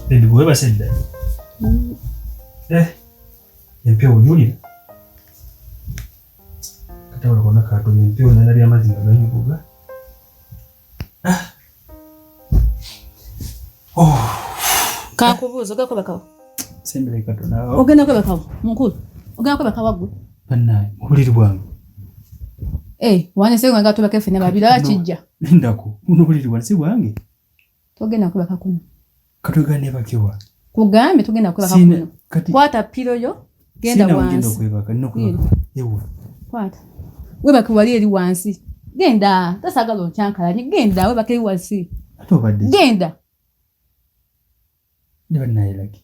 Baby boy basi dda. Mm. Eh. Empya onyulira. Kata olabona katonda empya onalabya amazzi nga ganyukuga. Oh. kakubuuza ogenda kwebakawa ogenda kwebakawa mukulu ogenda kwebakawa gwe banaye mubuliri bwange eh, waneseganga tubaka ffe nababira kijja lindako muno buliri bwange si bwange togenda kwebaka kuno katwegane bakiwa kugambye tugenda kwebaka kuno kwata piro yo genda wansi okwebaka nokwebaka ewa kwata webaka wali eri wansi genda tasagala okyankalanye genda webaka eri wansi ate obadde genda ne banayelaki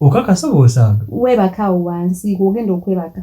okakasa oba osange webaka awo wansi gwogenda okwebaka